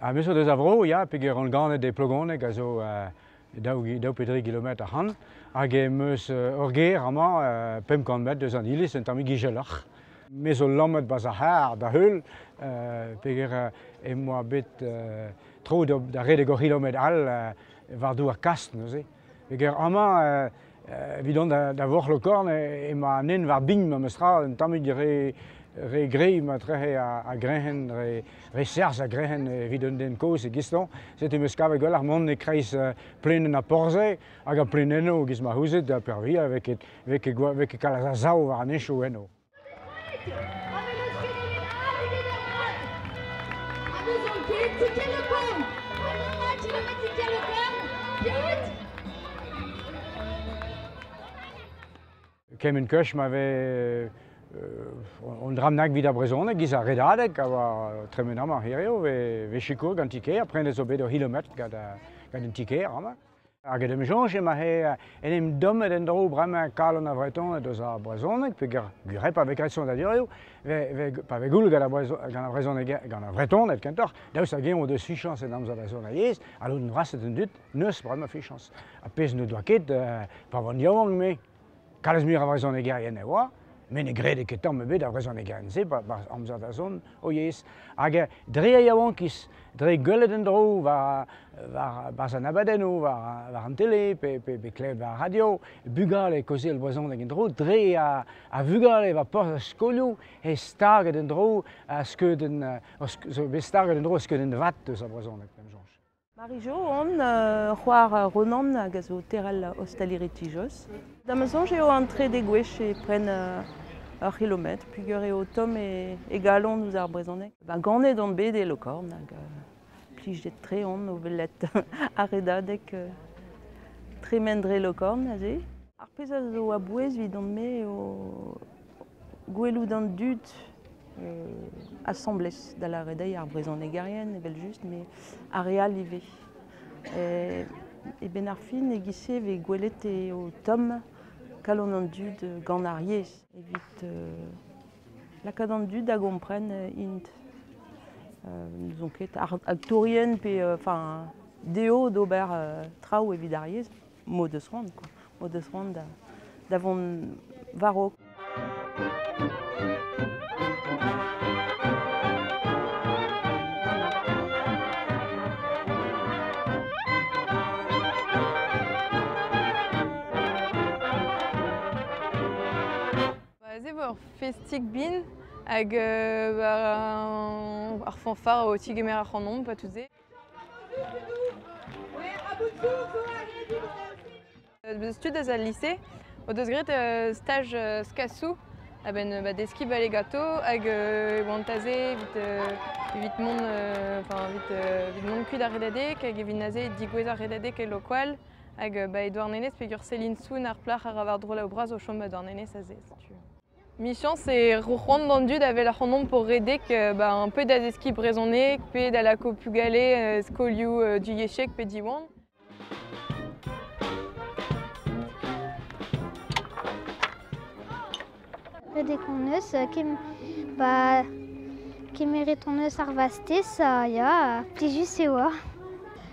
Ha me zo deus a vro, ya, peger rann-ganet e Plogoneg a zo uh, daou, daou pe dri kilometr ac'han. Hag em eus uh, ur gêr amañ, uh, pemp kant metr deus an iliz, un tammig izeloc'h. Me zo lammet bas ar c'harr da heul, uh, peger uh, em boa bet uh, tro da redek ur c'hilometr all uh, war-du ar kast neuze. Eger amañ, evidon da Vorc'h-Lokorn emañ an hent war bign memestra, un tammig re re greiz ma trec'he a-grec'hen, re serzh a-grec'hen evit un den kozh e Giston. Setu em eus kavet gwelloc'h mont e-kreiz plaenenn ar porzh-se hag ar plaenennoù giz ma c'houzit, ha peurvuiañ e vez ket kalz a sav war an henchoù eno. Kement kech ma vez un dramnag evit ar brezhoneg giz ar redadeg a oa tremen amañ hiriv vez sikour gant ti-kêr prenez zo bet ur c'hilometr gant un ti-kêr amañ. Hag en em soñj emañ en em dommet en-dro bremañ kalon ar Vretoned eus ar brezhoneg peger gwir pa vez graet sonadurioù, pa vez gouloù gant ar brezhoneg, gant ar Vretoned kentoc'h, daoust hag-eñ o deus fichañs en amzer da zont yezh, alout noaset an dud, n'eus bremañ fichañs. Ar pezh n'o doa ket, pa oant yaouank me, Kalz muiañ a vrezhonegerien e oa, met ne grede ket tamm ebet ar vrezhonegerien-se barzh amzer da zont o yezh. Hag dre e yaouankiz, dre gwelet en-dro war, war barzh an abadennoù, war, war an tele pe, pe, pe klevet war radio, bugale kaozeal brezhoneg en-dro, dre a, a vugale war porzh ar skolioù, eo staget en-dro ar skeudenn, zo bet staget en-dro ar skeudenn vat eus ar brezhoneg, p'em soñj. Marie-Jo on, uh, c'hoar Ronan hag a zo teral ostaleri Tijoz. Da ma soñj eo an trede gwech e pren uh, ur c'hilometr pugur eo tomm e, e galon ouzh ar brezhoneg. Ba ganet on bet e Lokorn hag uh, plijet-tre on o welet ar redadeg uh, tremen dre Lokorn aze. Ar pezh a zo a-bouez evidon-me eo gwelout an dud asambles, da lâret dezhi ar brezhonegerien evel-just, met ar re all ivez. E benn ar fin e-giz-se e vez gwelet eo tomm kalon an dud gant ar yezh evit lakaat an dud da gompren int. N'ouzon ket, aktourien pe enfin dezho d'ober traoù evit ar yezh. m'o deus c'hoant, quoi. M'o deus c'hoant da, da vont war-raok. Aze war festik bin hag euh, war ar fanfare o tigemer ac'hanomp, pas tout se. Deus tud eus al lise o deus graet staj skasoù a-benn ba, deskiñ bale gato hag oant aze evit mont evit mont kuit ar redadeg hag evit aze digouez ar redadeg e Lokoal hag ba e Douarnenez peogwir Céline Soun ar plac'h a ra war-dro o bras o chom ba Douarnenez aze setu. Michañs eo c'hoant an dud a-wel ac'hanomp o redek ba un peu da zeskiñ brezhoneg pe da lakaout bugale e skolioù divyezhek pe Diwan. Redek hon eus, ba kemeret hon eus ar vastez, ya, plijus eo.